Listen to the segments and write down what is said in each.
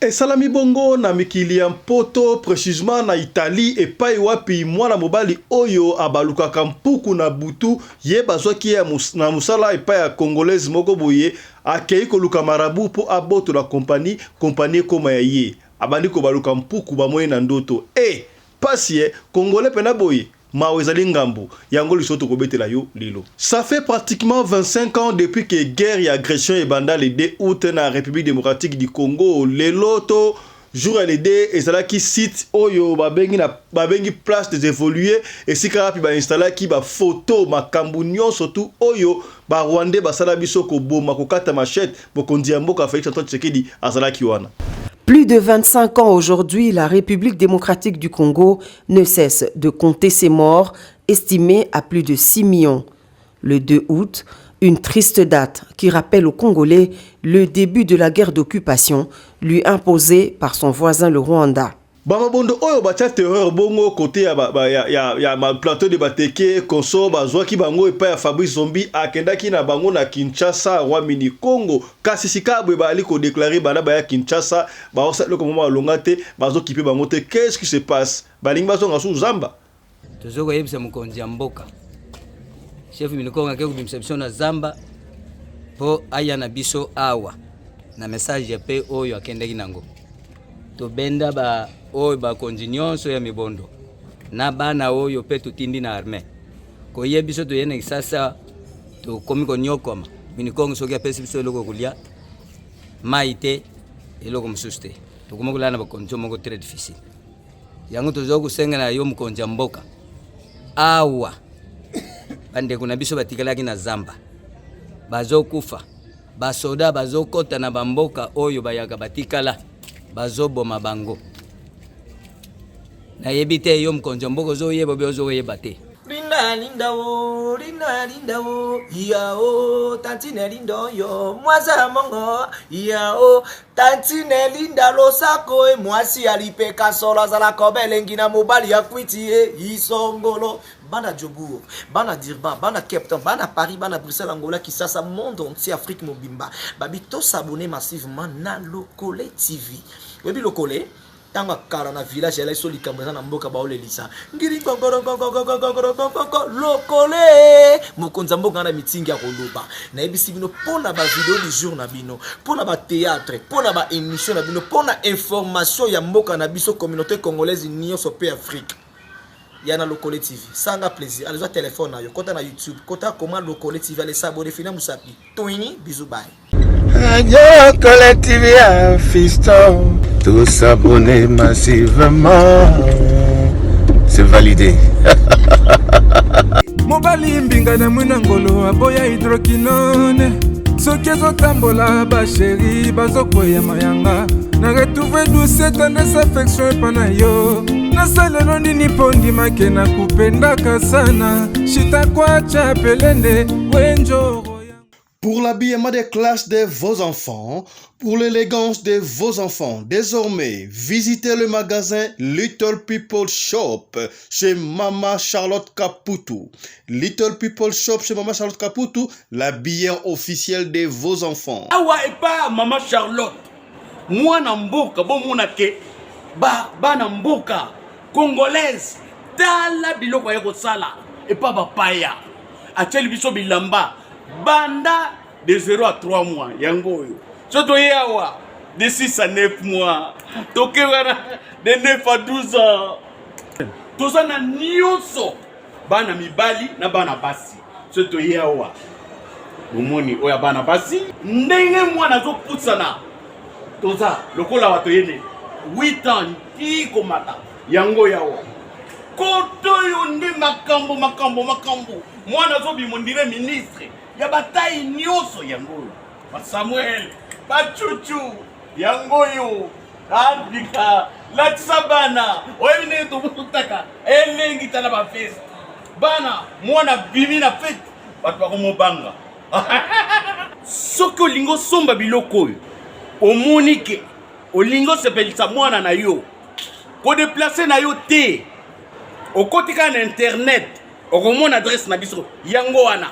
Esalami bongo na mikili ya Mpoto, precisement na Italie, epayi wapi mwana mobali oyo abalukaka mpuku na butu ye bazwaki ye na mosala epayi ya Congolaise moko boye, akeyi koluka marabout mpo abotola compagnie, compagnie ekoma ya ye. Abandi kobaluka mpuku, bamoni na ndoto. Eh! Pasi eh! Congolais pena boye? Mawa ezali ngambo yango lisolo tokobetela yo lelo. Ça fait pratiquement 25 ans depuis que guerre ya aggression ebanda le 2 aout na Republique democratique du Congo. Lelo to jour ya le 2 ezalaki site oyo babengi na babengi place des evolues esika wapi ba installaki ba photo makambo nyonso tu oyo ba rwandais basala biso koboma kokata machette mokonzi ya mboka Felix Antoine Tshisekedi azalaki wana. Plus de 25 ans aujourd'hui, la République démocratique du Congo ne cesse de compter ses morts, estimés à plus de 6 millions. Le 2 août, une triste date qui rappelle aux Congolais le début de la guerre d'occupation lui imposée par son voisin le Rwanda. Bamabondo oyo batya terreur bongo kote ya, ba, ba, ya, ya, ya ma plateau de bateke conso bazwaki bango epai ya Fabrice Zombi akendaki na bango na Kinshasa Rwamini Congo kasi sikaabwe baali kodeklare bana baya Kinshasa Baosala eloko moko malonga te, bazo kipe bango te qu'est ce qui se passe? Balingi bazonga su zamba? Tozo koyebisa mokonzi ya mboka chef minikonga ake kobimisa biso na zamba mpo aya na biso awa na message mpe oyo akendaki nango tobenda ba oyo bakonzi nyonso ya mibondo na bana oyo mpe totindi na arme koye biso toye na kisasa tokomi konyokwama minikongo soki apesi biso eloko kolia mai te eloko mosusu te tokomi kolala na bakondition moko très difficile yango tozali kosenga na yo mokonzi ya mboka awa bandeko na biso batikalaki na zamba bazokufa basoda bazokɔta na bamboka oyo bayaka batikala bazoboma bango Nayebi te yo mkonzi ya mboka ozo yeba ozo yeba te. Linda linda o linda linda o ya o tantine linda oyo mwasi ya mongo ya o tantine linda losako e mwasi ya lipeka solo azala koba elengi na mobali ya kwiti e isongolo bana jobourg bana dirban bana capton bana paris bana bruxelles angola kisasa monde entier afrique mobimba babi tosabone massivement na lokole tv oyebi lokole ntango ya kala na village ezalaki so likambo eza na mboka baolelisa ngiri lokole mokonzi ya mboka na mitingi ya koloba nayebisi bino mpo na bavideo du jour na bino mpo na bateatre mpo na baémission na bino mpo na information ya mboka na biso communauté congolaise nyonso mpe afrique ya na lokole tv sanga plaisir alizwa telefone na yo kota na youtube kota koma lokole tv alesa abone fina mosapi toini bizu baye lokole tv ya fisto tosabone massivement c'est validé mobali mbinga na mwina ngolo aboya hidrokinone soki ezotambola basheri bazokweyama yanga na retrouve douce tendresse affection epa na yo nasalelo nini mpo ndimake na kupendaka sana shitakwacha pelende wenjoro Pour l'habillement des classes de vos enfants, pour l'élégance de vos enfants, désormais, visitez le magasin Little People Shop chez Mama Charlotte Caputo. Little People Shop chez Mama Charlotte Caputo, l'habillant officiel de vos enfants. awa epa mama charlotte mwana mboka bomona ke bana mboka congolaise tala biloko aye kosala epa bapaya atyeli biso bilamba banda de 0 à 3 mois yango oyo so toye awa de 6 à 9 mois toke wana de 9 à 12 ans toza na nyonso bana mibali na bana basi so toye awa bomoni oyo ya bana basi ndenge mwana azopusana toza lokola wa toyene 8 ans ti komata yango yawa koto oyo nde makambo makambo makambo mwana azobima ndire ministre ya batai nyonso yango oyo Ba Samuel, ba chuchu, yango yo Afrika lakisa bana oyebi ndenge tokutaka elengi tala ba feste bana mwana bimi na fete bato bakomobanga soki olingi osomba biloko oyo omoni ke olingi osepelisa mwana na yo kodeplace na yo te okoti kaka na internet okomona adresse na biso yango wana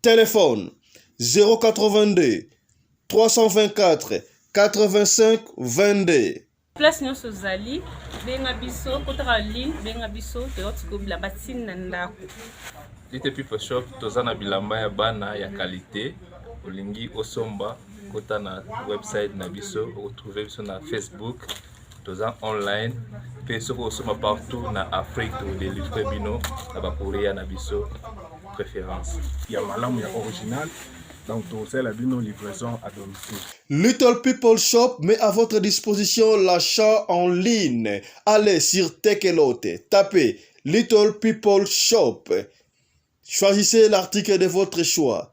Telephone 082 324 85 22. Place nyonso ozali benga biso kotaka ligne benga biso toyoti kobila batini na ndako. Lite People Shop toza na bilamba ya bana ya qualité olingi osomba kota na website na biso okotrouve biso na Facebook toza online mpe soki osomba partout na afrique todelivre bino na bakorea na biso préférence ya malamu ya original donc tokosalela bino livraison à domicile Little People Shop met à votre disposition l'achat en ligne. Allez sur Tekelote, tapez Little People Shop. Choisissez l'article de votre choix.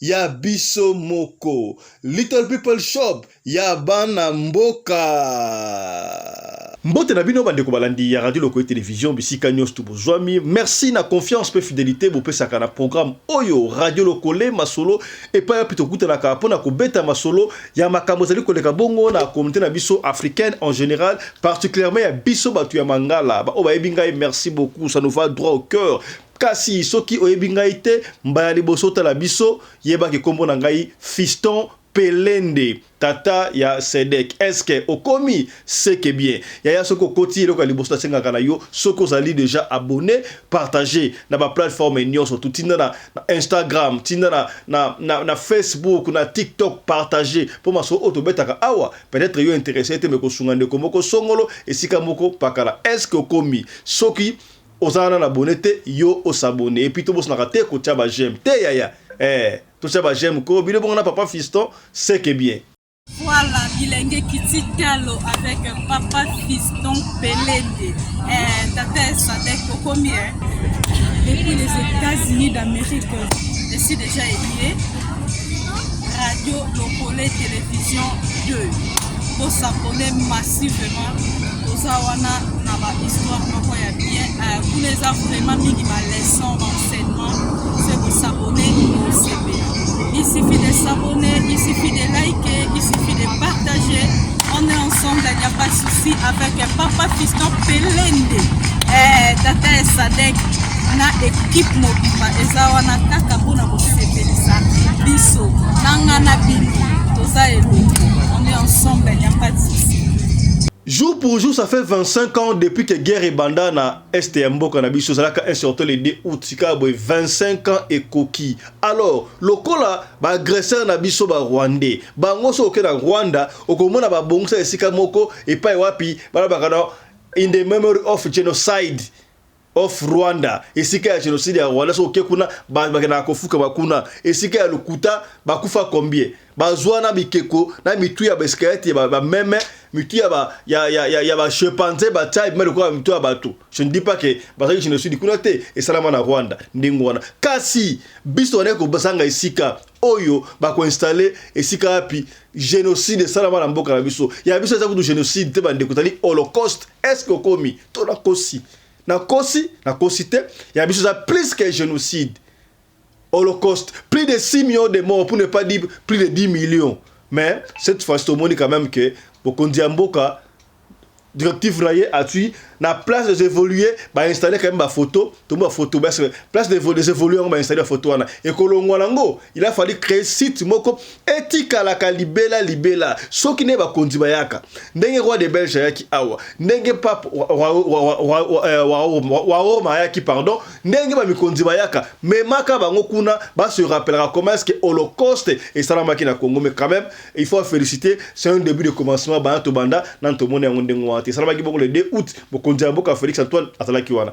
ya biso moko little people shop ya bana mboka mbote na bino bandeko balandi ya radio lokoye television bisika nyonso to bozwami merci na confiance mpe fidelité bopesaka na programme oyo radio lokole masolo epai wapi tokutanaka mpo na kobeta masolo ya makambo ezali koleka bongo na communauté na biso africaine en général particulièrement ya biso bato ya mangala baoyo bayebi ngai merci beaucoup ça nous va droit au cœur Kasi soki oyebi ngai te, mbala ya liboso otala biso, yeba ke kombo na ngai Fiston Pelende, tata ya Cedec. Est-ce que okomi? Ce que bien. Yaya soki okoti, eloko ya liboso nasengaka na yo, soki ozali dejà abonne, partager na ba plateformes nionso, tu tinda na Instagram, tinda na na na Facebook, na TikTok, partager po masolo oyo tobetaka awa, peut-etre yo interesser te mais ekosunga ndeko moko songolo esika moko pakala. Est-ce que okomi? Soki Oza wana na abonne te yo o s'abonner et puis to bosanaka te ko tia ba j'aime te yaya eh to tia ba j'aime koo bino bongo na papa fiston ce que bien. Voilà bilenge kiti talo avec papa fiston pelende eh tata sadek okomi eh depuis les États-Unis d'Amérique je suis déjà élié radio lokole télévision 2 pour s'abonner massivement toza wana na ba histoire moko ya bien euh, kuna eza vraiment mingi ba leçon ba enseignement se kosabone osepela il suffit de s'abonner il suffit de liker il suffit de partager on est ensemble il n'y a pas de souci avec papa fiston pelende eh, tata ya sadek na ekipe mobimba eza wana kaka mpona kosepelisa biso nanga na bino toza elongo on est ensemble il n'y a pas de souci Jour pour jour, ça fait 25 ans depuis que guerre ebanda na est ya mboka na biso ezalaka un surtout le 2 août sika boye 25 ans ekoki. Alors lokola ba agresseurs na biso ba rwandais bango so oke na Rwanda okomona babongisa esika moko epai wapi balobaka na in the memory of genocide Of Rwanda esika ya genocide ya Rwanda soki oke kuna bakendaka kofuka bakuna esika ya lokuta bakufa combien bazwa na bikeko na mitu ya baeskelete ya bameme mitu ya ba ya ya ya, ya ba chimpanzé batya ebima lokola mitu ya bato je ne dis pas que bazali genocide kuna te esalama na Rwanda ndenge wana kasi biso wana ekobasanga esika oyo bakoinstalle esika wapi genocide esalama na mboka na biso ya biso eza kutu genocide te bandeko ezali holocauste est ce que okomi to nakosi Na kosi na kosi te ya biso eza plus que genocide holocaust plus de 6 millions de morts pour ne pas dire plus de 10 millions mais cette fois tomoni quand même que bokonzi ya mboka directive na ye atui na place des évoluer ba installer quand même ba photo tomoni ba photo parce que place des évoluer yango ba installer ba photo wana ekolongwa nango il a fallu créer site moko etikalaka libela libela soki nde bakonzi bayaka ndenge roi de belge ayaki awa ndenge pape wa roma ayaki pardon ndenge bamikonzi bayaka memaka bango kuna base rappelaka comment est ce que holocauste esalamaki na congo mais quand même il faut féliciter c'est un début de commencement bana tobanda nanu tomoni yango ndenge wana te esalamaki bongo le 2 août mokonzi ya mboka félix antoine azalaki wana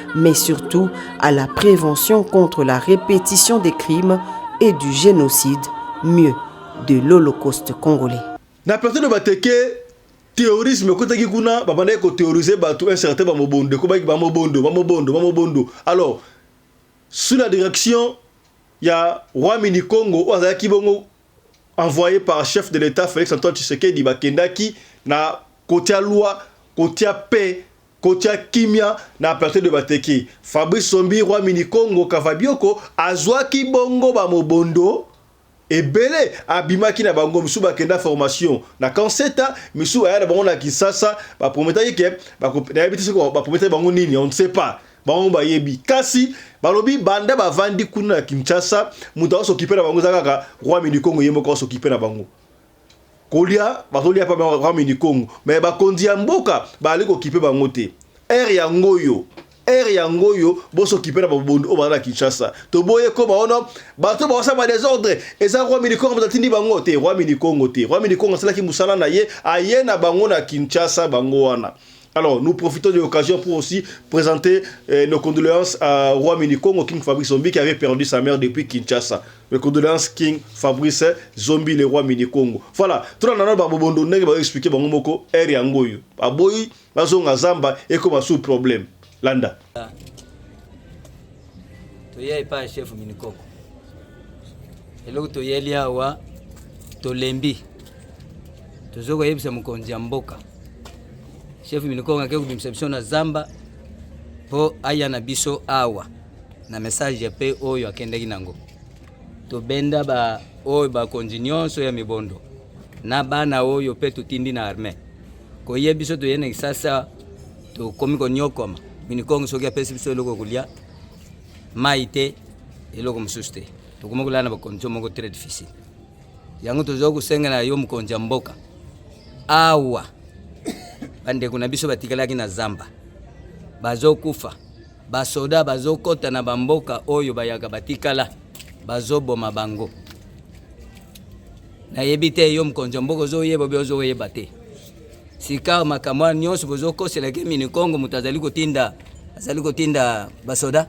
mais surtout à la prévention contre la répétition des crimes et du génocide, mieux, de l'Holocauste congolais. Na personne bateke terrorisme ekotaki kuna babandaki koterrorise bato un certain bamobondo ekobaki bamobondo bamobondo bamobondo alors sous la direction ya roi mini congo oyo azalaki bongo envoyé par chef de l'état félix antoine tshisekedi bakendaki na kotia loi kotia paix Kotia kimia na plateau de bateki. Fabrice Sombi Roi Mini Kongo Kavabioko azuaki bongo ba mobondo ebele abimaki na bango misusu bakenda formation na camp Seta misusu aya na bango na Kinshasa ba prometaki ke bako nayebi te soki ba prometaki bango nini on ne sait pas bango bayebi kasi balobi banda bavandi kuna na Kinshasa moto aosokipe na bango eza kaka Roi Mini Kongo ye moko aosokipe na bango kolia bazolia pa ba mini Congo mais bakonzi ya mboka bazali kokipe bango te heure yango oyo heure yango oyo boso kipe na babondo oyo baza na Kinshasa toboye koba wana bato baosa ba desordre eza roi mini Congo moto atindi bango te roi mini Congo te roi mini Congo asalaki mosala na ye aye na bango na Kinshasa bango wana Alors, nous profitons de l'occasion pour aussi présenter euh, nos condoléances à Roi Minikongo, King Fabrice Zombie, qui avait perdu sa mère depuis Kinshasa. Mes condoléances, King Fabrice Zombie, le roi Minikongo. Voilà, tout le monde babobondo nenge ba expliquer bango moko er yango yo. Aboyi bazonga zamba et comme sous problème. Landa. toya epai ya chef minikoko eloko toyeli awa tolembi tozo koyebisa mokonzi ya mboka chef minikoko ake kobimisa biso na zamba mpo aya na biso awa na message mpe oyo akendaki nango tobenda baoyo bakonzi nyonso ya mibondo na bana oyo mpe totindi na armee koye biso toye na kisasa tokomi konyokwama minikongo soki apesi biso eloko kolia mai te eloko mosusu te tokomi kolala na bakondition moko très difficile yango toza kosengela yo mokonzi ya mboka awa bandeko na biso batikalaki na zamba bazokufa basoda bazokɔta na bamboka oyo bayaka batikala bazoboma bango nayebi te yo mokonzi ya mboka ozoyeba obi ozoyeba te sikawa makambo wana nyonso bozokosela ke minikongo moto azali kotinda azali kotinda basoda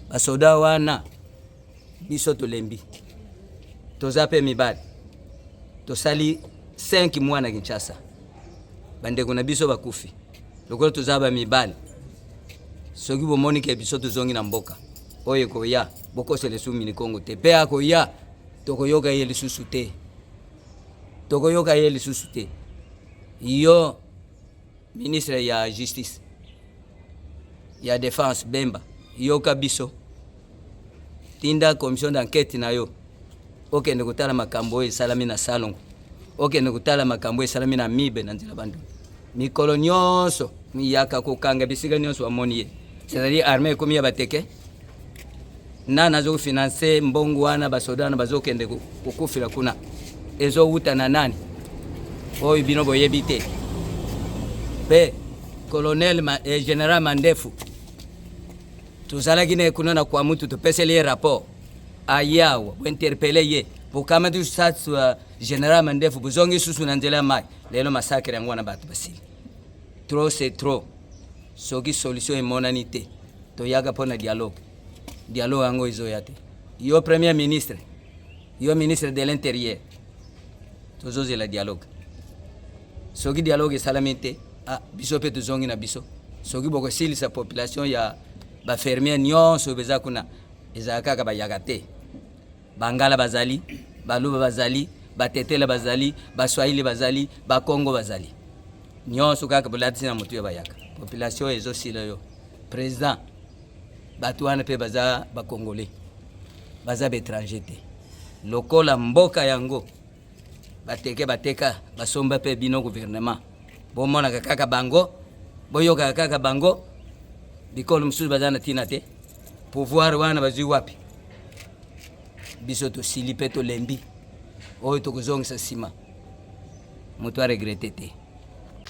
basoda wana biso tolembi toza mpe mibali tosali 5 mwa na kinshasa bandeko na biso bakufi lokola toza bamibali soki bomoni ke biso tozongi na mboka oyo ekoya bokosela esu minikongo te mpe akoya tokoyoka ye lisusu te tokoyoka ye lisusu te yo ministre ya justice ya defense bemba yoka biso tinda commission d'enquête na yo okende kotala makambo oyo esalami na salongo okende kotala makambo esalami na mibe na nzela bandu mikolo nyonso miyaka kokanga bisika nyonso bamoni ye c'est-à-dire armée ekomi ya bateke nani azofinanse mbongo wana basoda wana bazokende kokufela kuna ezowuta na nani oyo bino boyebi te mpe colonel ma, eh, general mandefu tozalaki naye kuna na kwa mutu topeseli ye rapport ayawa bointerpele ye bokamati sas uh, general mandefu bozongi susu na nzela ya mai lelo masakre yango wana bato basili trop c'est trop soki solution emonani te Toyaka mpo na dialogue, dialogue yango ezoya te. Yo premier ministre, yo ministre de l'interieur, tozozela dialogue. Soki dialogue esalami te, ah, biso mpe tozongi na biso. Soki bokosilisa population ya bafermier nyonso beza kuna, ezala kaka bayaka te. Bangala bazali, Baluba bazali, Batetela bazali, Baswahili bazali, Bakongo bazali. Nyonso kaka bolatisi na motu ya bayaka. Population ezosila yo. President, bato wana mpe baza bakongole, baza baetranger te. Lokola mboka yango bateke bateka basomba mpe bino guvernema bomonaka kaka bango boyokaka kaka bango bikolo mosusu baza na ntina te pouvoir wana bazwi wapi biso tosili mpe tolembi oyo tokozongisa nsima moto aregrete te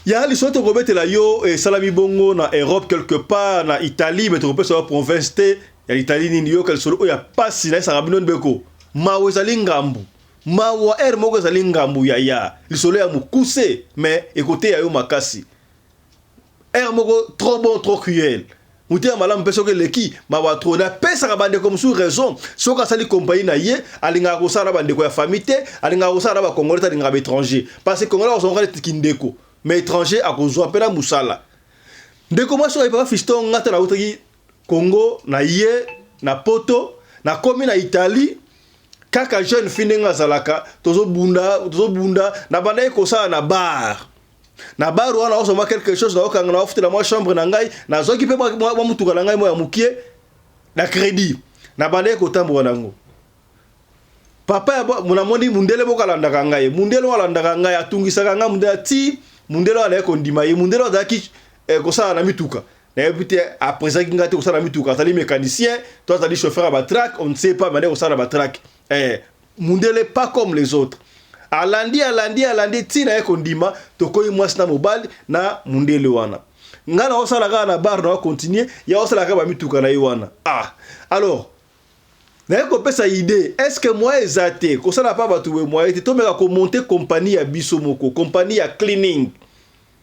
ya liso tokobetela yo esalami bongo na europe quelque part na italie me tokopesa yo province te ya italie nini yoka lisolo oyo ya mpasi nayesaka bino ndeko mawa ezali ngambu Mawa heure moko ezali ngambu ya ya lisolo ya mukuse mais ekoteya yo makasi heure moko trop bon trop cruel motema malamu mpe soki eleki mawa trop na pesaka bandeko mosusu raison soki asali compagnie na ye alingaka kosala na bandeko ya famille te alingaka kosala na bakongole te alingaka baétranger parce que kongole akosongoka neti kindeko mais étranger akozwa mpe na mosala ndeko mwasi oyo papa fiston ngata nautaki Congo na ye na poto na komi na Italie kaka jeune fille ndenge azalaka tozo bunda tozo bunda na bandaki kosala na bar na bar wana naozo mwa quelque chose na okanga na ofutela mwa chambre na ngai na zoki pe mwa mutuka na ngai mwa ya mukie na credit na bandaki kotambola nango papa ya mona moni mundele boko alandaka ngai mundele oyo alandaka ngai atungisaka ngai mundele ti mundele oyo azalaki kondima ye mundele oyo azalaki eh, kosala na mituka nayebi te apresaki ngai te kosala mituka azali mécanicien to azali chauffeur ya batrack on ne sait pas mane kosala batrack eh, mundele pas comme les autres alandi alandi alandi ntina ye kondima tokoyi mwasi na mobali na mundele wana ngai naosala kaka na bar na ocontinue ye aosala kaka bamituka na ye wana ah alors naye kopesa idée est ce que moyen eza te kosala pa bato boye moyen te tomeka komonte kompani ya biso moko kompani ya cleaning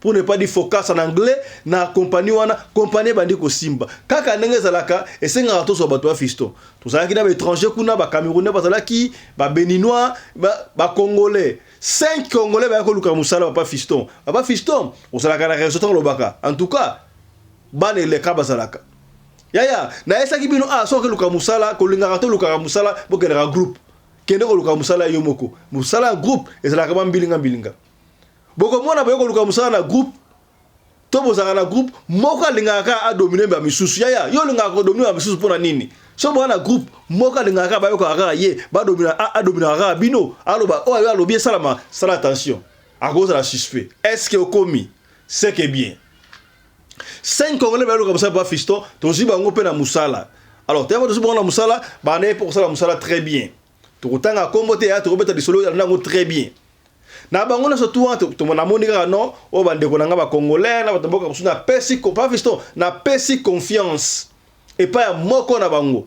pour ne pas dire focus en anglais na compagnie wana compagnie ebandi kosimba kaka ndenge ezalaka esengaka tozwa bato ya fiston tozalaki na baétranger kuna bacamerounais bazalaki babéninois bacongolais ba 5 congolais bayaki koluka mosala papa fiston papa fiston ozalaka na réseau ntango olobaka en tout cas bana eleka bazalaka yaya nayesaki bino a ah, soki oluka mosala kolingaka to olukaka mosala bokendaka groupe kende koluka mosala yo moko mosala ya groupe ezalaka bambilinga mbilinga, mbilinga. bokomona boye koluka mosala na groupe to bozalaka na groupe moko alingaka kaka adomine ba misusu yaya yo olingaka kodomine ba misusu mpona nini so boza na groupe moko alingaka kaka bayokaka kaka ye adominaka kaka bino aloba oyo oh, yo alobi esalama sala attention akozala suspect estce okomi seke bien 5 congolais bayoluka mosala ba fiston tozwi bango mpe na mosala alors teyaba tozwi bango na mosala banda ye mpo kosala mosala très bien Tokotanga kombo te ya tokobeta lisolo ya nango très bien. Na bango na sotu wana tomona moni kaka non oyo ba ndeko na nga ba congolais na batomboka kusu na pesi ko pa fiston na pesi confiance epa ya moko na bango.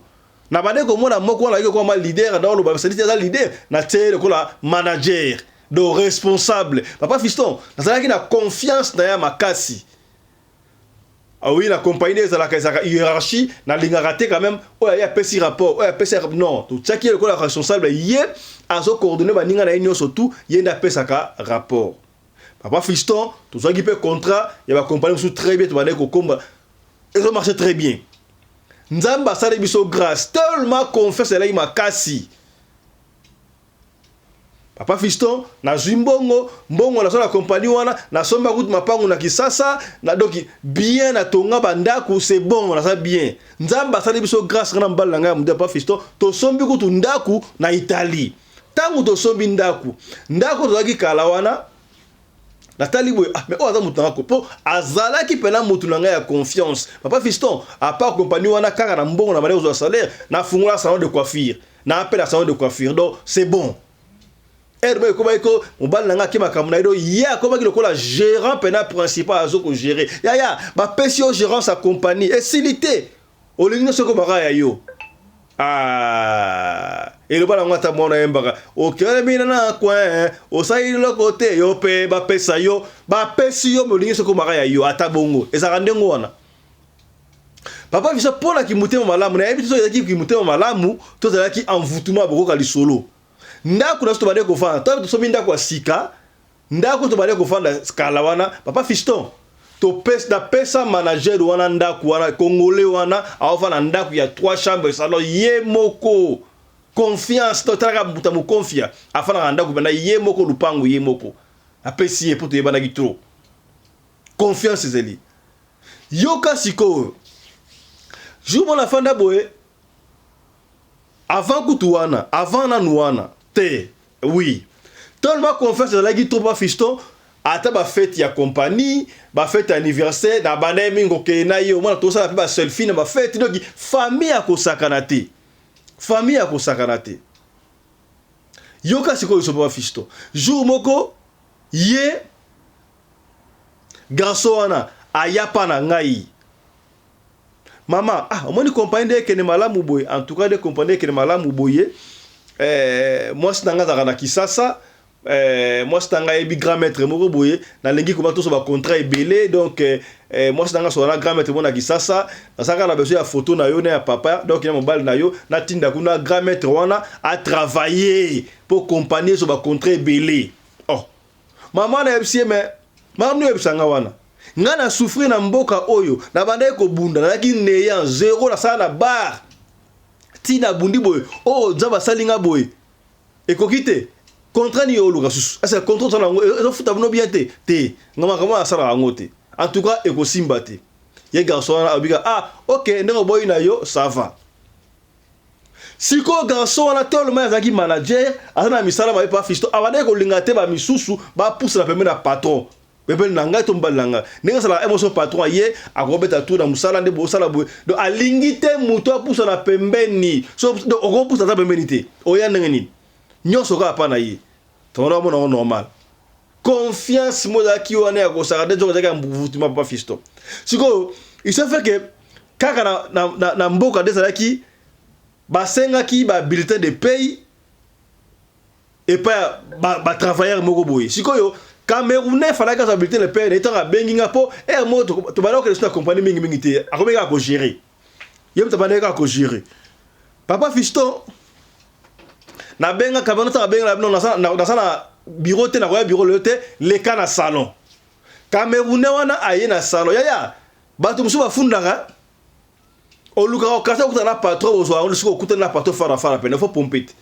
Na bande komona moko wana yoko kwa ma leader na oloba salite aza leader na tse lokola manager do responsable. Papa fiston nazalaki na confiance na ya makasi. Ah oui, na compagnie nde ezalaka ezalaka hiérarchie, nalingaka te quand même oyo aye apesi rapport, oyo apesi rap- non, totiaki ye lokola responsable, ye azo coordonner baninga na ye nyonso tout, ye nde apesaka rapport. Papa Fiston, tozwaki mpe contrat ya ba compagnie mosusu très bien, tobandaki kokomba, ezo marche très bien. Nzambe asali biso grace, tellement confiance ezalaki makasi. Papa Fiston nazui mbongo mbongo nazua na compagnie wana nasomba kutu mapangu na Kisasa na doki bien na tonga ba ndaku c'est bon naza bien Nzambe asali biso grace nga na mobali na nga ya mudia Papa Fiston tosombi kutu ndaku na Italie tangu tosombi ndaku ndaku tozalaki kala wana natali boye ah mais oyo aza mutu na nga po azalaki pena mutu na nga ya confiance Papa Fiston à part compagnie wana kaka na mbongo na bande kozua salaire na fungola salon de coiffure na appel ya salon de coiffure donc c'est bon heure moko ekomaki ko mobali na ngai ake makambo na ye donc ye akomaki lokola gérant mpena principal azo kogere yaya bapesi yo gérance ya compagnie esili te olingi nyonso ekomaka ya yo Ah, eloba nango ata mwana yembaka okelemi na coin osali loko te yo mpe bapesa yo bapesi yo molingi soki omaka ya yo ata bongo ezalaka ndenge wana Papa Vincent, mpo na kimotema malamu, nayebi te soki ezalaki kimotema malamu to ezalaki envoûtement ya bokoka lisolo. Ndako na biso tobandaki kofanda, ntango tosomi ndako ya sika, ndako tobandaki kofanda kala wana, Papa Fiston, topesa napesa manager wana ndako wana, congolais wana aofanda ndako ya trois chambres salon ye moko confiance to talaka mbuta mokonfia afandaka ndako banda ye moko lupango ye moko apesi ye mpo toyebanaki trop Confiance ezeli. Yoka sikoyo. Jour mona afanda boye avant kutu wana, avant nanu wana te. Oui. Tellement confiance ezalaki trop pa Fiston, ata ba fete ya compagnie, ba fete anniversaire na banda ye mingi kokeye na ye, omona tosala pe ba selfie na ba fete. Donc famille ya kosakana te. Famille ya kosakana te. Yoka sikoyo liso papa Fiston. Jour moko ye Garçon wana aya pa na ngai. Maman ah omoni compagnie nde ekende malamu boye en tout cas nde compagnie ekende malamu boye eh, mwasi na ngai azalaka na Kisasa eh, mwasi na ngai ayebi grand maître moko boye nalingi koba toso ba contrat ebele donc eh, eh, mwasi na ngai asola na grand maître moko na kisasa nazalaka na besoin ya photo na yo na ya papa donc ya mobali na yo natinda kuna grand maître wana atravaille mpo compagnie ezo ba contrat ebele oh Maman na yebisi ye mais maman yebisa nga wana. Nga na souffrir na mboka oyo, na bandaki ko bunda, na ki neya zero na sala na bar. Ti na bundi boye, oh nzaba sali nga boye. Ekoki te. Contrat ni yo luka susu. Asa contrat tana ngo ezo futa bino bien te. Te. Nga makambo na sala ngo te. En tout cas ekosimba te. Ye garçon wana abika ah OK ndeko boyi na yo ça va. Sikoyo garçon wana tellement azalaki manager, aza na misala mabe pa Fiston, abandaki kolinga te ba misusu ba pusana pembeni ya patron. Pembeni na ngai to mobali na ngai. Ndenge asalaka un moso patron aye, akobeta tour na musala nde bosala boye. Donc alingi te mutu apusana pembeni. So donc okopusa aza pembeni te. Oya ndenge nini? Nionso kaka pa na ye. Tonton omona ngo normal. confiance mo ezalaki wana ya kosaka nde nzoka ezalaki ya mbuvutima papa fisto sikoyo isefeke kaka na, na, na, na mboka nde ezalaki basengaki ba bulletin de paye epai ya batravailleur ba moko boye sikoyo camerounais falaki azwa bulletin de paye na ye ntango abengi nga mpo ere moko tobanda kokende so na compagnie mingimingi te akomi kaka kogere ye moto abandaki kaka kojire papa fiston nabenga kabano ntango abengela bino naza na biro te nakoya biro lelo te leka na salon kamerune wana aye na salon yaya bato mosusu bafundaka olukaka okasi okutana na patron bozwa yango lisusu okutani na patron farafara pene fo pompe te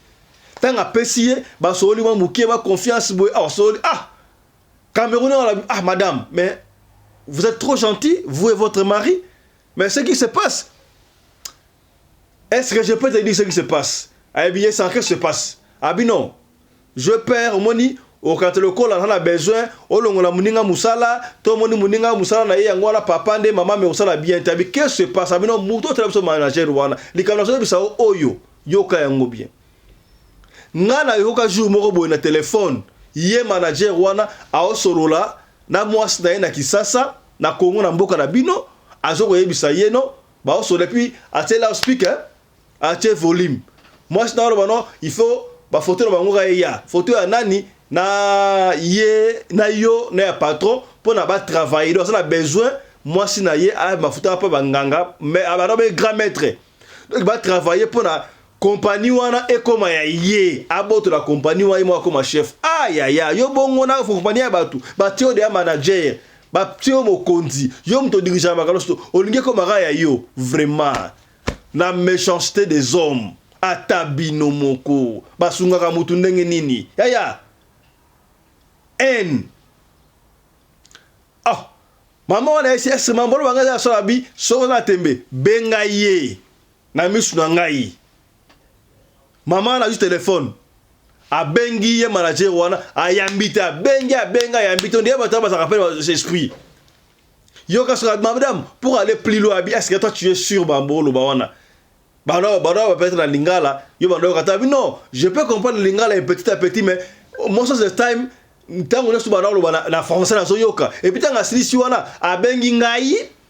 ntango apesi ye basololi mwa moke ba confiance boye awa ah, sololi ah kamerune wana ah madame mais vous êtes trop gentil vous et votre mari Mais ce qui se passe, est-ce que je peux te dire ce qui se passe Ayebi ye sans que se passe. Abi non. Je perds omoni okata lokola na na besoin olongola muninga musala to moni muninga musala na ye yango wana papa nde mama me osala bien te abi que se passe abi non muto otala biso manager wana likambo na soyebisa o oyo yoka yango bien nga na yoka jour moko boye na telefone ye manager wana aosolola na muasi naye na kisasa na congo na mboka na bino azo koyebisa ye no baosola epuis atie loud speaker atie volume muasi na oloba no il faut ba photo na bango ka eya photo ya nani na ye na yo na ya patron mpo na ba travailler do aza na besoin muasi na ye a mafuta mpe banganga mais abana be grand maître donc ba travailler mpo na compagnie wana ekoma ya ye abotola compagnie wana ye moko akoma chef ah yaya yo bongo na compagnie ya bato batie yo deya manager batie yo mokonzi yo moto odirigaka makambo nyonso olingi ekomaka ya yo vraiment la méchanceté des hommes ata bino moko basungaka motu ndenge nini yaya haine ah mama wana esi esima mbolo banga eza asala bi soko na tembe benga ye Na misu na ngai maman wana azwi telephone abengi ye manager wana ayambi te abengi abengi ayambi te ondire bato wana bazalaka mpe esprit yoka soka madame pour aller plus loin abi est-ce que toi tu es sûr bambo oloba wana bana bana bapeta na lingala yo bana yoka tabi non je peux comprendre lingala et petit à petit mais most of the time ntango nyonso bana oloba na, na français nazoyoka epuis ntango asilisi wana abengi ngai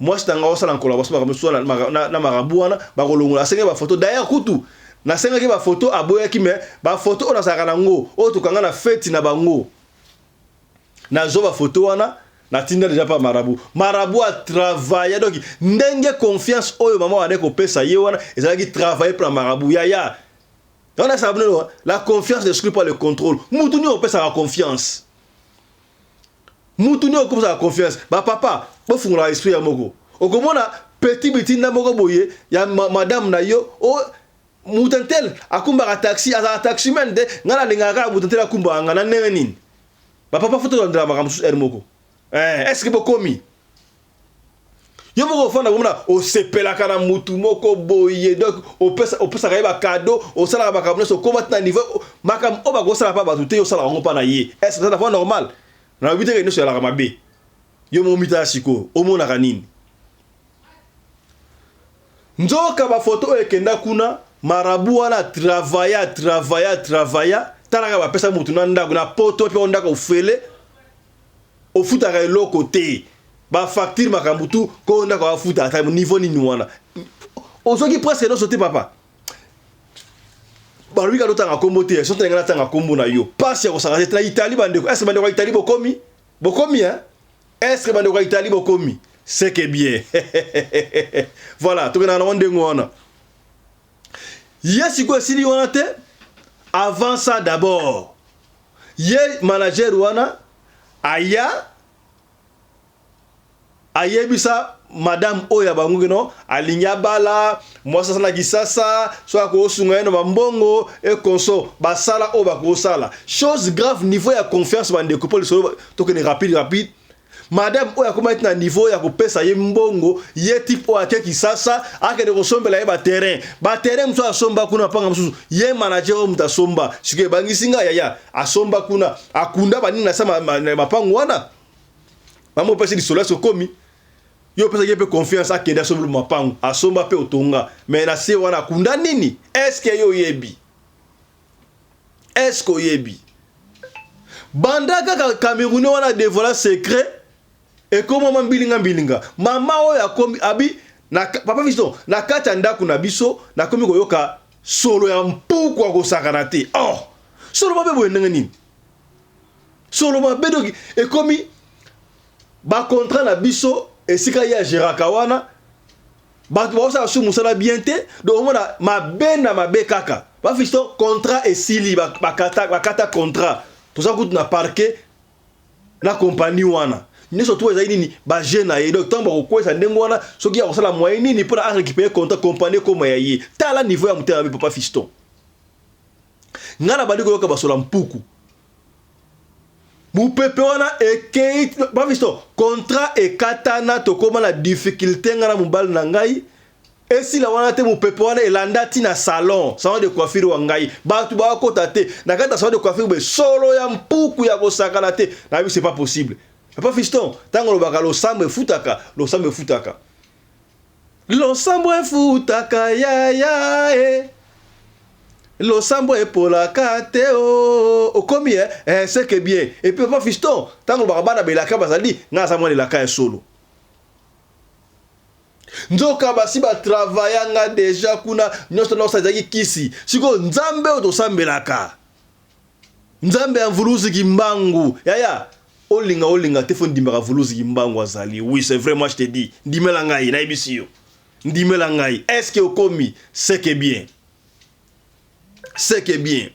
Mwasi na ngai osala collaboration makambo mosusu na, na, na, na marabu wana bakolongola. Asengaki bafoto d'ailleurs kutu nasengaki bafoto aboyaki, me bafoto oyo nazalaka na yango oyo tokanga na feti na bango nazwa bafoto wana natinda deja pa marabu marabu atravaya donc ndenge confiance oyo mama wana ekopesa ye wana ezalaki travaille mpo na marabu yaya wana esaka bino la confiance n'exclut pas le contrôle mutu nini opesaka confiance mutu nde okopesaka confiance ba papa bofungolaka esprit ya moko okomona petit bitinda moko boye ya ma, madame na yo o oh, mutantel akumbaka taxi azala taximan te ngai nalingaka kaka mutantel akumbaka ngai na ndenge nini bapapa fo tolandela makambo mosusu ere moko eh, estce bokomi yo moko ofanda komona osepelaka na mutu moko boye donc opesaka ye bakado osalaka makambo nyonso okoma ti na niveau makambo oyo bakosala mpa bato te yo osalaka yango mpa na ye est ce que eza na fois normal nalobi teke nyonso yalaka mabe yo moko mitala sikoyo omonaka nini nzoka bafoto oyo ekenda kuna marabu wana travaya travaya travaya talaka bapesa motu na ndako na poto mpe ndako ofele ofutaka eloko te ba facture makambo tu ko ndako afuta ata niveau nini wana ozoki presque nyonso te papa balobi kaka totanga nkombo te soki ngai natanga nkombo na yo mpasi ya kosanga te na itali bandeko eske bandeko ya itali bokomi bokomi hein eske bandeko ya itali bokomi seke bien voilà tokendaka nango ndenge wana ye sikoyo esili wana te avant ça d'abord Ye manager wana aya ayebisa madame oyo ya bango keno alingi abala mwasi asala kisasa so akosunga ye na bambongo e konso basala oyo bakosala chose grave niveau ya confiance bandeko mpo lisolo tokende rapide rapide Madame oyo akomaki ti na niveau ya kopesa ye mbongo, ye type oyo ake Kisasa akende kosombela ye ba terrain, ba terrain mosusu asomba kuna panga mosusu, ye manager oyo moto asomba sikoyo ebangisi nga yaya, asomba kuna akunda banini na sa mapango wana mama opesi lisolo ya sokomi yo opesaki ye mpe confiance akende asombela mapango asomba mpe otonga me na se wana akunda nini eske yo oyebi Est ce que oyebi banda kaka camerounais wana devoila secret ekomama mbilinga mbilinga mama oyo akomi abi na papa visto na kati ya ndako na biso nakomi koyoka solo ya mpuku ya kosakana te oh solo mabe boye ndenge nini solo mabe doki ekomi bakontra na biso esika ye ageraka wana bato baosala su mosala bien te donc omona mabe na mabe kaka bafisto contrat esili bakata, bakata contrat toza kutu na parke na kompani wana nyonso tu ezali nini baje na ye donc ntango bakokwesa ndenge wana soki akosala moyen nini mpo na arécupere contrat kompani ekoma ya ye tala niveau ya motema mabe papa fiston ngai nabandi koyoka basola mpuku mupepe wana ekei bamisto contrat ekatana tokoma na difficulté nga na mobali na ngai esila wana te mupepe wana elanda ti na salon salon de coiffure wa ngai bato bakota te na kati ya salon de coiffure be solo ya mpuku ya kosakana te na biso pas possible papa fiston ntango olobaka losambo efutaka losambo efutaka Losambo efutaka yaya e losambo epolaka te o oh. okomi e eh, seke bien epuis papa fiston ntango lobaka bana belaka bazali ngai aza mwana elaka ya solo nzoka basi batravaya nga deja kuna nyonso naosa ezalaki kisi sikoyo nzambe oyo tosambelaka Nzambe ya Mvuluzi Kimbangu yaya olinga olinga te fo ndimaka Mvuluzi Kimbangu azali oui c'est vrai moi je te dis ndimela ngai nayebisi yo ndimela ngai est-ce que okomi c'est que bien c'est que bien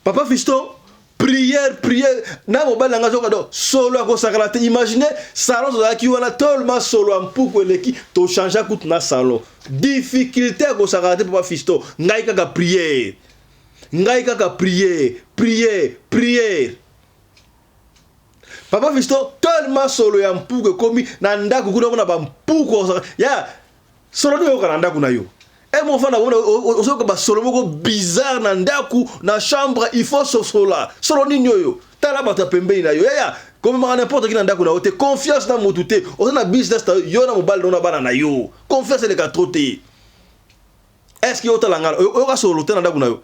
Papa Fiston prière prière na mobali na ngai azoka donc solo ya kosakana te imagine salon tozalaki wana tolma solo ya mpuku eleki tochangea kutu na salon difficulté ya kosakana te papa fisto ngai kaka prière ngai kaka prière prière prière papa fisto tolma solo ya mpuku ekomi na ndako kuna mona bampuku ya Solo nini oyoka na ndaku na yo? Eh mon fana wona osoka ba solo moko bizarre na ndaku na chambre il faut sosola. Solo nini oyo? Tala bato ya pembeni na yo. Yaya, komemaka n'importe qui na ndaku na yo te. Confiance na mutu te. Oza na business na yo, yo na mobali na yo na bana na yo. Confiance eleka trop te. Est-ce que otala nga oyoka solo te na ndaku na yo?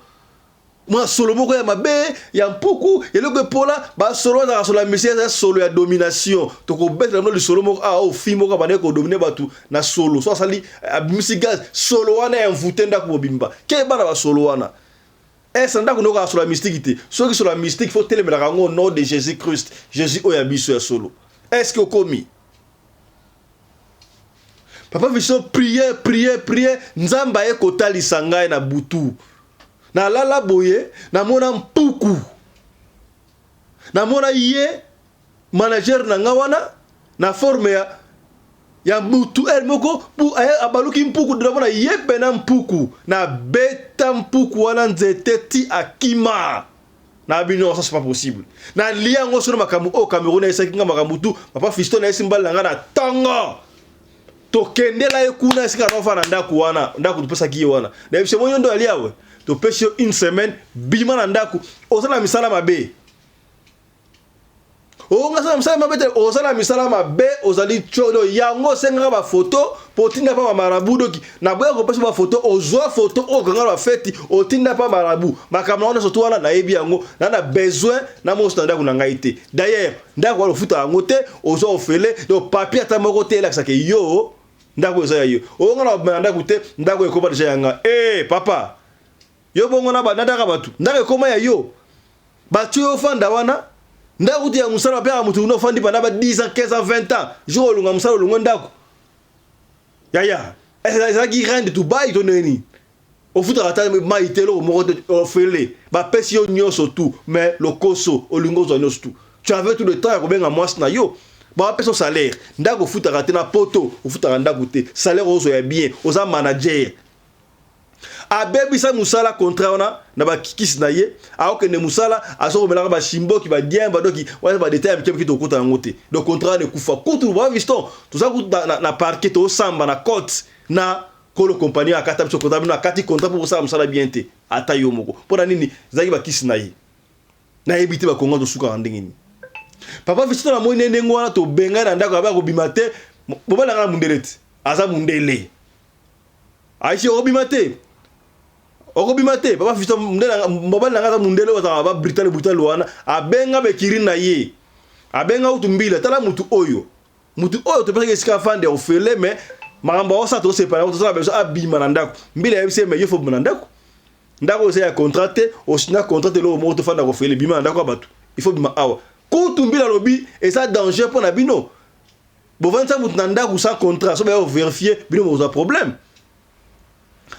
mwa solo moko ya mabe ya mpuku eloko epola basolo azalaka solo ya misika eza solo ya domination tokobetela bino lisolo moko awa ah, oyo oh, fi moko abandaki kodomine bato na solo so asali abimisi gaz solo wana ya mvute ndako mobimba ke bana basolo wana ese eh, ndako noko asolo ya mystike te soki solo ya mystike fo telemelaka yango au nom de jésus christ jésus oyo ya biso ya solo eske okomi Papa Vincent priye priye priye Nzambe aye kotalisa ngai na butu. Nalala boye namona mpuku. Namona ye manager na nga wana na forme ya ya mutu heure moko abaluki mpuku namona ye pena mpuku na beta mpuku wana nzete ti akima. na bino ça c'est pas possible na liango sur makambo au Cameroun ayesaki kinga makambo tout papa Fiston na yesi mbala nga na tongo tokendela ye kuna esika na ofana ndako wana ndako topesaki ye wana na yebisi mo yondo alia we topesi yo une semaine bima na ndako oza na misala mabe Oh, ngasala msala mabe te, ozala misala mabe, ozali chodo. Yango sengaka ba photo potinda pa marabu doki. Na boya ko pesa ba photo, ozwa photo o ganga ba feti, otinda pa marabu. Makambo na wana sotu wana na yebi yango, na na besoin na mo standa kuna ngai te. D'ailleurs, ndako wana ofuta yango te, ozwa ofele, donc papier ata moko te elakisa ke yo ndako eza ya yo. Onga na obima na ndako te, ndako ekoma deja yanga. Eh, papa! Yo bongo na ba nadaka batu ndako ekoma ya yo batu yo fanda wana ndako kutu ya musala bapeka mutu kuna ofandi panda ba 10 ans 15 ans 20 ans jour olunga musala olungwe ndako yaya ezalaki reine de Dubaï to ndenge nini ofutaka ata mai te eloko moko te ofele bapesi yo nyonso tu mais lokoso olingi ozwa nyonso tu tu avais tout le temps ya kobenga mwasi na yo bapesa salaire ndako ofutaka te na poto ofutaka ndako te salaire ozwa ya bien oza manager abebisa musala contrat wana na ba kikis na ye akokende musala azokomelaka ba shimboki ba dien ba doki wana ba detail mike mike tokuta yango te donc contrat wana ekufa kutu ba viston toza kutu na, na, na parquet tosamba na cote na kolo compagnie akata biso contrat bino akati contrat pour kosala musala bien te ata yo moko mpo na nini ezalaki bakisi na ye nayebi te bakongo tosukaka ndenge nini papa viston namoni nde ndenge wana tobengai na ndako yabe akobima te bobalanga na mundele te aza mundele Aisha obima te. Okobima te. Papa Fiston mundele mobali na ngaza mundele wazaka ba brutal brutal wana abenga be kirin na ye. Abenga utu mbila tala mutu oyo. Mutu oyo to pesaki esika afande ofele mais makambo ya osa to sepana ko tosala beso abima na ndako. Mbila yebise mais yo fo bima na ndako. Ndako oyo ya contrat te, osina contrat te loko moko to fanda ko ofele bima na ndako ya batu. Il faut bima awa. Kutu mbila lobi eza danger pona bino. bovandisa moto na ndako sans contrat so baya overifie bino bokozwa problème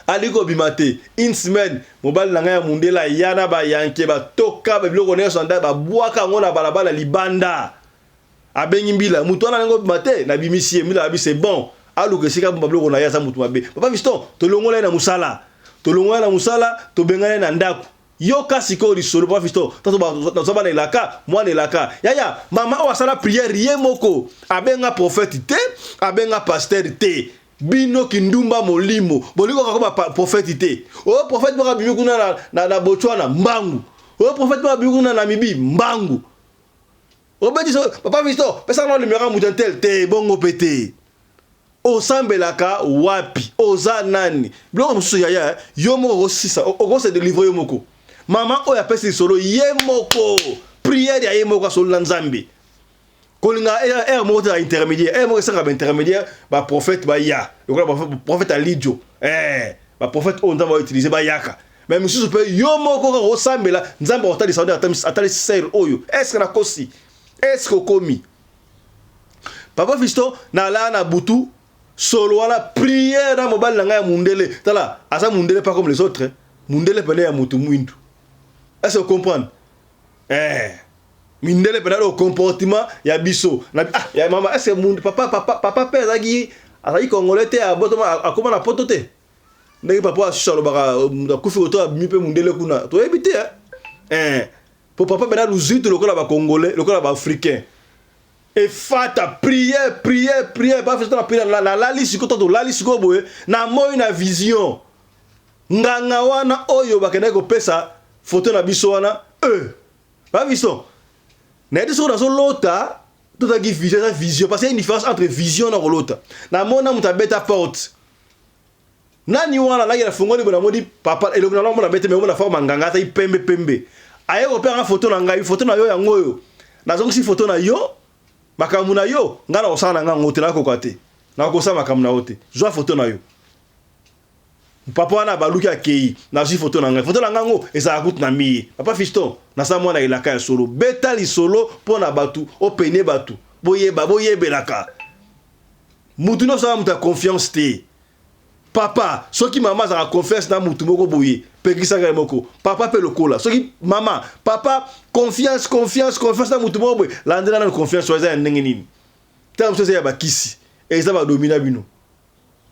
alingi kobima te une semaine mobali na ngai ya mundela ya na bayanke batoka babiloko nyonso ya ndako babwaka yango na balabala libanda abengi mbila moto wana alingi kobima te nabimisi ye mbila abi c'est bon aluka esika bomba biloko na ye aza moto mabe papa fiston tolongola ye na mosala tolongola ye na mosala tobengana ye na ndako Yoka sikoyo lisolo papa Fisto, nazo bana elaka, mwana elaka. Yaya, mama oyo asala prière ye moko, abenga prophète te, abenga pasteur te. Bino kindumba molimo, bolingo kakoma prophète te. Oyo prophète moko abimi kuna na, na, na Botswana, mbangu. Oyo prophète moko abimi kuna na Namibie, mbangu. Obeti so, papa Fisto, pesa na numéro ya mutantel te, bongo pe te. Osambelaka wapi? Oza nani? Biloko mosusu yaya eh? Yo moko okosisa, oko se delivrer yo moko. Maman oyo apesi lisolo ye moko prière ya ye moko asolo na Nzambe. Kolinga heure moko te na intermédiaire. Heure moko esaka ba intermédiaire ba prophète ba ya. Lokola ba prophète Alidio. Eh, ba prophète oyo Nzambe a utiliser ba yaka. Mais misusu pe yo moko kaka osambela Nzambe akotalisa yo atalisi sœur oyo. Est-ce que na kosi? Est-ce que okomi? Papa Fiston na laa na butu solo wana prière na mobali na ngai ya mundele tala aza mundele pas comme les autres mundele pene ya mutu mwindu est-ce que vous comprenez eh mindele pene au comportement ya biso na ah ya mama est-ce que mundu papa papa papa pe azaki azaki congolais te abotama akoma na poto te ndenge papa asusu alobaka mutu akufi koto abimi pe mundele kuna toyebi te eh Po papa bernard luzuitu lokola ba congolais lokola ba africain efata prière prière prière ba festa na prière na lali siko to lali siko boye na moi na vision nganga wana oyo bakendaki kopesa foto na biso wana e euh, ba biso na yedi soko nazo lota tozalaki vision eza vision parce que une différence entre vision na kolota na mona moto abeta porte Nani wana naki na fungoli bona modi papa elongi na lomona bete memo na forme nganga ata ipembe pembe aye ko pera photo na ngai photo na yo yango oyo na zongisi photo na yo makambu na yo ngai na kosala na ngai ngote na koka te na kosa makambu na yo te zwa photo na yo papa wana abaluki akei na zwi photo na ngai photo na ngai ngo ezala kutu na miye papa fiston na sa mwana elaka ya solo beta lisolo pona batu opene batu boyeba boyebelaka mutu nionso aza mutu ya confiance te papa soki mama azalaka confiance na mutu moko boye pekisa ngai moko papa pe lokola soki mama papa confiance confiance confiance na mutu moko boye landela nanu confiance oyo eza ya ndenge nini tala mosusu eza ya bakisi eza badomina bino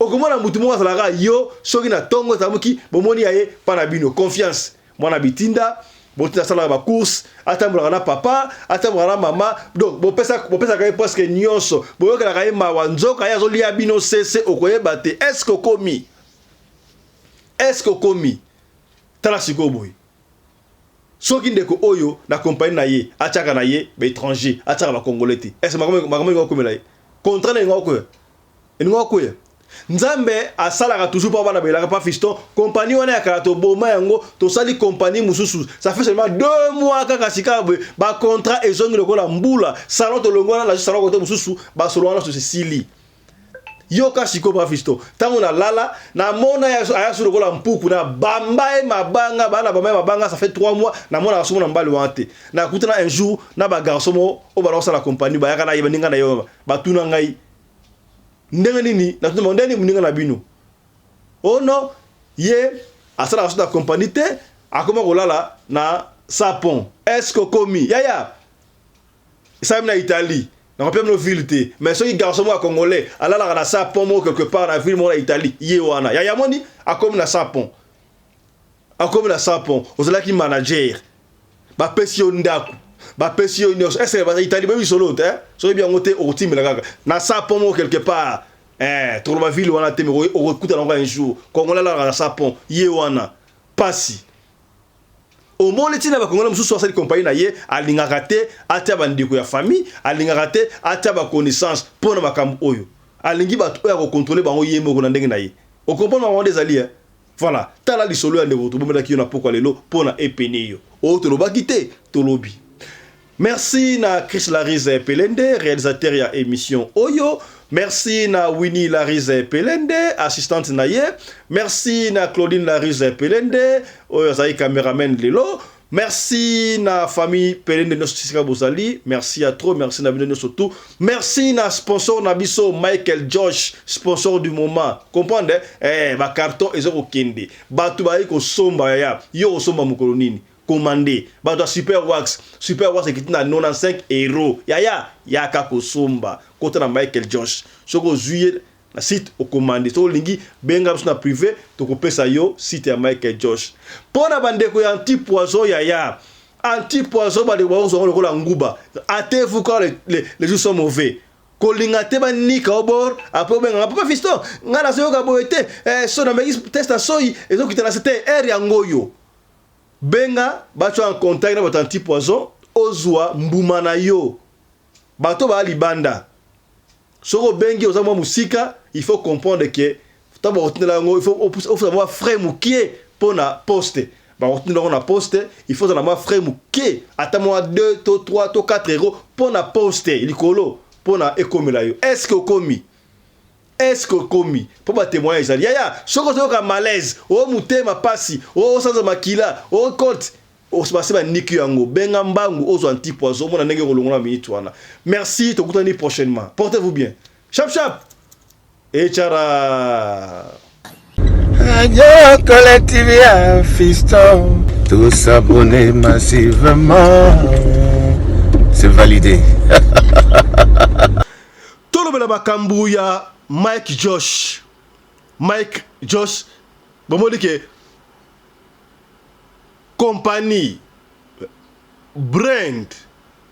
okomona mutu moko azalaka yo soki na tongo ezamuki bomoni ya ye pa na bino confiance mwana bitinda botinda asalaka bacourse atambolaka na papa atambolaka na mama donc bopesaka bopesa ye presque nyonso boyokelaka ye mawa nzoka ye azolia bino sese okoyeba te eske okomi eske okomi tala sikoyo boye soki ndeko oyo na kompani na ye atyaka na ye baétranger atyaka bacongolais te eske makambo elinga okomela ye contrat na elinga okoya elinga okoya Nzambe asalaka toujours pour bana belaka pas fiston compagnie wana ya kala toboma yango tosali compagnie mususu ça fait seulement deux mois kaka sika boye ba contrat ezongi lokola mbula salon tolongi wana nazo salon kote mususu basolo wana susu esili yoka siko pa fiston ntango nalala namona aya su lokola mpuku na bamba ye mabanga bana bamba ye mabanga ça fait trois mois namonaka somo na mbali wana te nakutana un jour na bagarso moko oyo bana kosala compagnie bayaka na ye baninga na ye batuna ngai Ndenge nini na tuna bango ndenge nini moninga na bino oh non ye asalaka soda compagnie te akoma kolala na sapon est-ce que okomi yaya esalami na Italie nakopia bino ville te mais soki garçon moko ya congolais alalaka na sapon moko quelque part na ville moko na Italie ye wana yaya moni akomi na sapon Akomi na sapon, ozalaki manager. Ba pesi yo ndaku. Ba pesi yo nioso. Est-ce que ba itali ba bisolo te? Soki bien ngote okotimela kaka. Na sapon mo quelque part. Eh, toloba ville wana te mais okokuta na un jour. Congolais la na sapon. Ye wana. Pasi. Omoni tina ba Congolais mususu asali compagnie na ye, alingaka te atia ba ndeko ya famille, alingaka te atia ba connaissances pona makambo oyo. Alingi bato oyo akokontrole bango ye moko na ndenge na ye. Okomprendre makambo wana ezali eh? Voilà tala lisolo ya ndeko tobomelaki yo na pokwa lelo pona epene yo oyo tolobaki te tolobi. Merci na Chris Larize Pelende realisateur ya emission oyo. Merci na Winnie Larize Pelende assistante na ye. Merci na Claudine Larize Pelende oyo azali cameraman lelo. Merci na famille Pelende nyoso tisika bozali. Merci ya trop, merci na bino nyoso tout. Merci na sponsor na biso Michael Josh, sponsor du moment. Comprendre? Eh, ba carton ezo kokende. Batu bayi kosomba yaya. Yo osomba mokolo nini? Commande. Batu ya Super Wax, Super Wax ekiti na 95 euros. Yaya, yaka kosomba. Kota na Michael Josh. Soki ozui Na site okomande soki olingi benga biso na prive tokopesa yo site ya Michael Josh. Pona ba ndeko ya anti poison yaya anti poison ba ndeko bakozwa ngo lokola nguba ate vous quand les, les, les jours sont mauvais kolinga te ba nika obor après obenga nga papa fiston nga na soyoka boye te eh, so na meki test ya soyi ezokita na site air yango yo benga bacho en contact na bato anti poison ozwa mbuma na yo Bato ba libanda soki obengi oza mwa musika il faut comprendre que tango bakotindela yango il faut ofuta mwa frais mukie mpo na poste bakotindela yango na poste il faut ozala mwa frais mukie ata mwa 2 to 3 to 4 euro mpo na poste likolo mpo na ekomela yo est ce que okomi Est-ce que okomi mpo ba témoignage ezali yaya soki ozoyoka malaise o motema pasi o osanza makila o cote Okosi basi ba niki yango. Benga mbangu ozwa anti poison omona ndenge oko longola minute wana. Merci tokutani prochainement. Portez vous bien. Shap shap. Et chara. Radio Kole TV ya Fiston. Tout s'abonner massivement. C'est validé. Tolobela makambo ya Mike Josh. Mike Josh bomoni ke kompani, brand,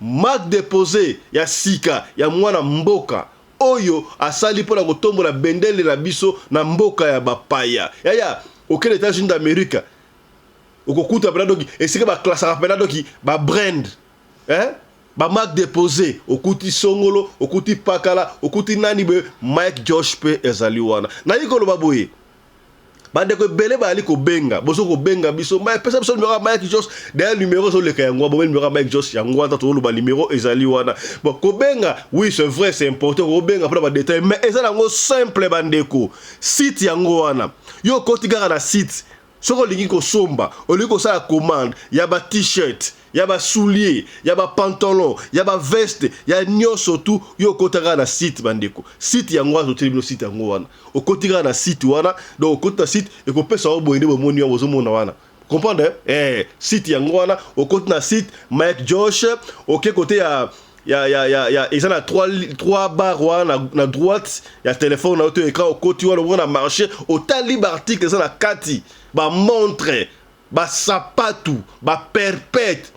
marque deposee ya sika ya mwana mboka oyo asali mpo na kotombola bendele na biso na mboka ya bapaya. Yaya, okende Etats-Unis d'Amerique, okokuta pena doki esika ba classaka pena doki ba brand, eh? ba marque deposee, okuti songolo, okuti pakala, okuti nani boye, Mike Josh mpe ezali wana. Nayi koloba boye. bandeko ebele bayali kobenga bozo kobenga biso maya pesa biso numero ya mike jos daya numero ezoleka yango abome numero ya mike jos yango ata tozoloba numero ezali wana bon kobenga oui c'est vrai c'est important kobenga mpona badetail mais eza nango simple bandeko site yango wana yo okoti kaka na site soki olingi kosomba olingi kosala commande ya ba t-shirt ya ba soulier ya ba pantalon ya ba veste ya nioso tout yo okota kaka na site bandeko site yango wana totieli bino site yango wana okoti kaka na site wana donc okoti na site ekopesa yo boye nde bomoni yango ozomona wana comprendre eh site yango wana okoti na site Mike Josh oke kote ya ya ya ya ya eza na 3 3 bar wana na, na droite ya telefone na yo to ekra okoti wana okona marché otali baarticle eza na kati bamontre Ba sapatu, ba perpète,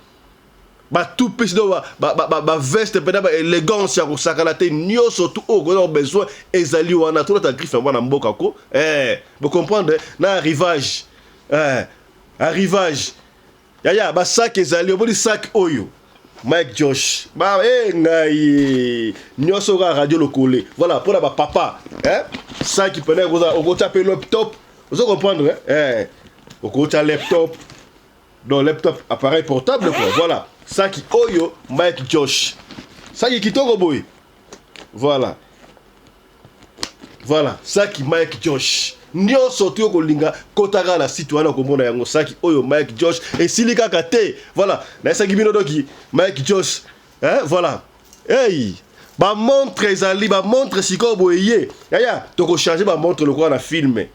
ba tout pisi do ba, ba, ba, ba, ba veste pena ba elegance ya kosakana te nioso tout oyo okozala besoin ezali wana tolata griffe ya mwana mboka ko eh bo comprendre na arrivage eh arrivage yaya ba sac ezali oboni sac oyo Mike Josh. Bah, eh, ngai. Nyoso ga radio lokole. Voilà, pour la papa. Hein? Ça qui prenait, on va taper le top. ozo comprendre eh okotya laptop donc laptop appareil portable quoi voilà saki oyo mike josh saki kitoko boye voilà voilà saki mike josh nyonso toyo kolinga kotaka na site wana okomona yango saki oyo mike josh esili kaka te voilà nayesaki bino doki mike josh eh, voilà Hey! Ba montre ezali ba montre sikoyo boye ye. Yaya, toko changer ba montre lokola na filme.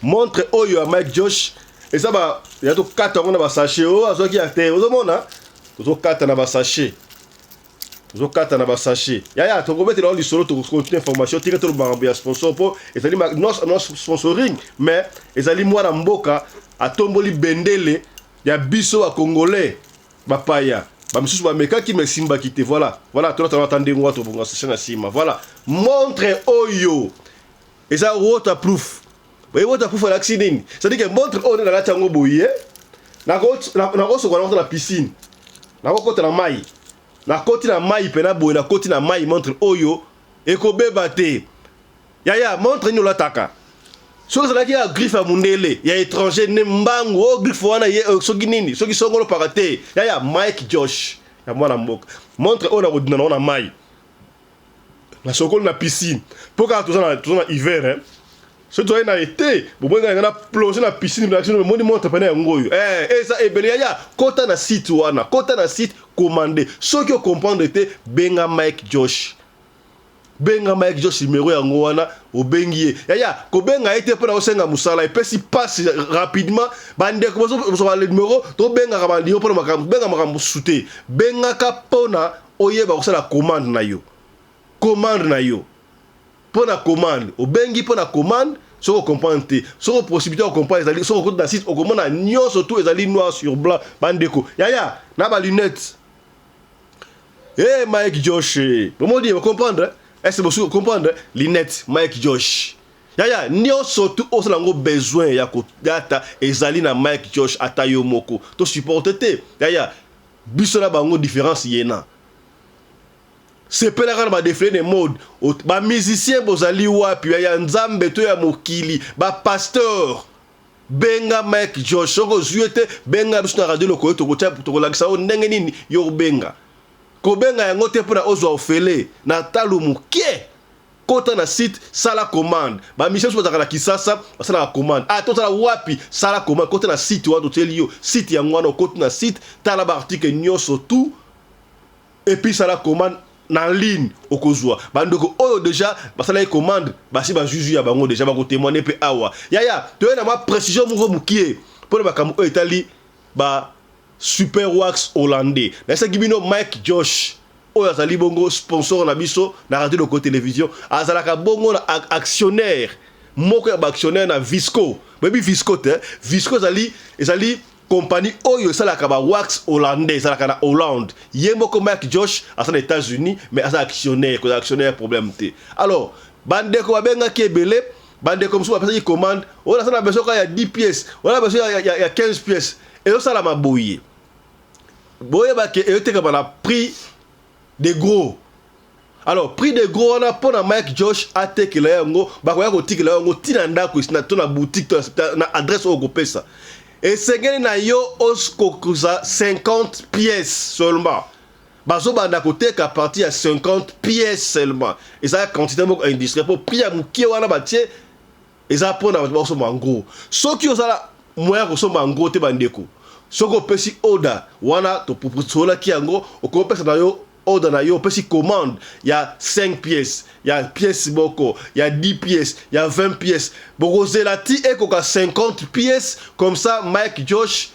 Montre oyo ya Mike Josh eza ba ya to kata yango na ba sachet oyo oh, azwaki ya te. Ozomona? Ozo kata na ba sachet. Ozo kata na ba sachet. Yaya, toko betela yo lisolo toko continuer information tika to makambo ya sponsor po ezali ma non non sponsoring mais ezali mwana mboka atomboli bendele ya biso ba congolais. bapaya bamisusu bamekaki ma esimbaki te voilà voilà tolata ata ndenge wana tobonga sese na nsima voilà montre oyo eza waterproof oye waterproof alakisi nini cetadi ke montre oyo nde nalati yango boye nakosokola nakota na piscine nakokota na mai nakoti na mai mpena boye nakoti na mai montre oyo ekobeba te Yaya, montre nini olataka? Soki ezalaki ya griffe ya mundele ya étranger ne mbangu o oh, griffe wana ye euh, soki nini soki songolo paka te yaya Mike Josh ya mwana mboka montre oyo nakodina nango na mai na sokoli na piscine mpo kaka toza na toza na hiver hein soki tozali na ete bobongi na na plonge na piscine bilakisi no moni montre pene yango oyo eh eza ebele yaya kota na site wana kota na site commande soki o comprendre te benga Mike Josh Benga Mike Josh numero yango wana obengi ye. Yaya kobenga ye te mpo na kosenga mosala epesi mpasi rapidement. Bandeko bozwa numero tobengaka bandimo mpo na makambo benga makambo mosusu te. Bengaka mpo na oyeba kosala commande na yo commande na yo mpo na commande obengi mpo na commande soki okomprendre te soki oposibilité ya kokomprendre ezali soki okoti na site okomona nyonso tu ezali noir sur blanc bandeko yaya na balunete Hey, Mike Josh, bomoni ye bocomprendre ese bosuki kocomprendre linete Mike Josh yaya nyonso tu osala yango besoin ya kodata ezali na Mike Josh ata yo moko to supporte te yaya biso na bango différence yena sepelaka na badefile de mode bamusicien bozali wapi ya nzambe to ya mokili bapasteur Benga Mike Josh soki ozwi ye te, benga biso na Radio Lokoyo, tokolakisa yo ndenge nini yo obenga. Kobenga yango te mpo na ozwa ofele na talo moke. Kota na site, sala commande. Ba musiciens biso bazalaka na Kisasa, basalaka commande. Ah, tozala wapi? Sala commande, kota na site wana totieli yo. Site yango wana okoti na site, tala ba articles nyonso tout et puis ça la commande na ligne okozwa bandeko oyo deja basalaki commande basi bazuzu ya bango deja bakotemoine mpe awa yaya toye na mwa précision moko mokie mpo na makambo oyo etali ba super wax hollandais nayesaki bino mike josh oyo azali bongo sponsor na biso na radio loko television azalaka bongo na actionnaire moko ya baactionnaire na visco boyebi visco te visco ezali ezali Compagnie oyo esalaka ba wax hollandais ezalaka na Hollande. Ye moko Mike Josh aza na Etats-Unis mais aza actionnaire, kozala actionnaire problème te. Alors, bandeko babengaki ebele, bandeko mosusu bapesaki commande, oyo naza na besoin kaka ya 10 pièces, oyo na besoin ya, ya, ya 15 pièces. Ezosalama boye. Boyeba ke eyotekama na prix de gros alors prix de gros wana mpo na mike josh atekela yo yango bakoya kotikela yo yango ntina ndako esina to na boutique to na adresse oyo okopesa esengeli na yo okokuza 50 pièces seulement bazobanda koteka parti ya 50 pièces seulement eza quantité moko industriel mpo prix ya moke wana batie Eza pona bato bakosomba en gros. Soki oza na moyen ya kosomba en gros te ba ndeko, soki opesi order wana tosololaki yango, okoki opesa na yo order na yo, opesi commande ya 5 pièces, ya pièce moko, ya 10 pièces, ya 20 pièces, bokozela ti ekoka 50 pièces, comme ça Mike Josh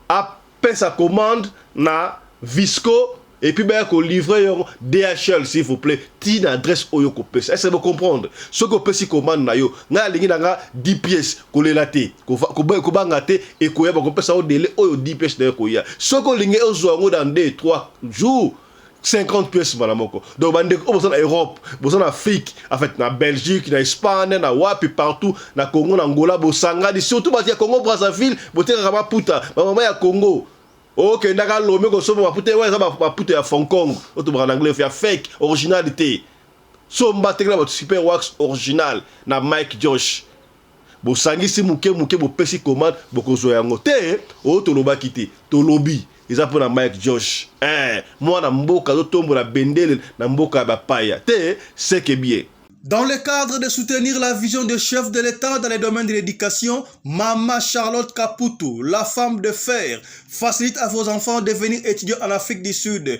apesa commande na visco et puis baya ko livrer yo DHL s'il vous plaît ti na adresse oyo ko pesa est-ce que vous comprendre soki opesi commande na yo ngai alingi na nga 10 pièces kolela te kobanga te ekoya bako pesa yo délai oyo 10 pièces na yo ekoya soki olingi ozwa yango dans 2 3 jours 50 pièces mbala moko donc bandeko oyo boza na europe boza na afrique en fait na belgique na espagne na wapi partout na congo na angola bosangani surtout bato ya congo brazzaville botekaka maputa bamama ya congo okendaka lome kosomba maputa ewa eza maputa ya fonkong otobaka na anglais ya fake originalité somba tekela bato super wax original na mike josh bosangisi muke muke bopesi commande bokozwa yango te oyo tolobaki te tolobi eza pona Mike Josh eh mwana mboka azotombola bendele na mboka ya bapaya te seke bien. Dans le cadre de soutenir la vision de chef de l'Etat dans le domaine de l'éducation, Mama Charlotte Kaputu, la femme de fer, facilite à vos enfants de venir étudier en Afrique du Sud.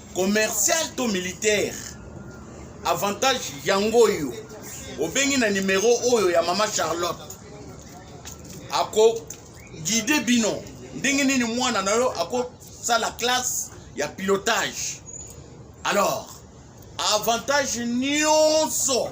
commercial to militaire avantage yango oyo obengi na nimero oyo ya mama charlotte ako guide bino ndenge nini mwana na yo akosala classe ya pilotage alors avantage nyonso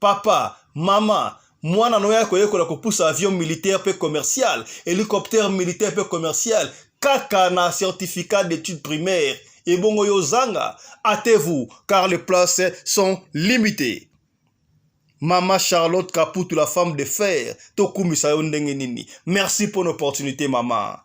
papa mama mwana na oyo akoyekola kopusa avion militaire mpe commercial hélicoptère militaire mpe commercial kaka na certificat d'études primaires ebongo yo ozanga atez-vous car les places sont limitées Mama Charlotte Kaputu, la femme de fer, tokumisa yo ndenge nini. Merci pour l'opportunité, mama.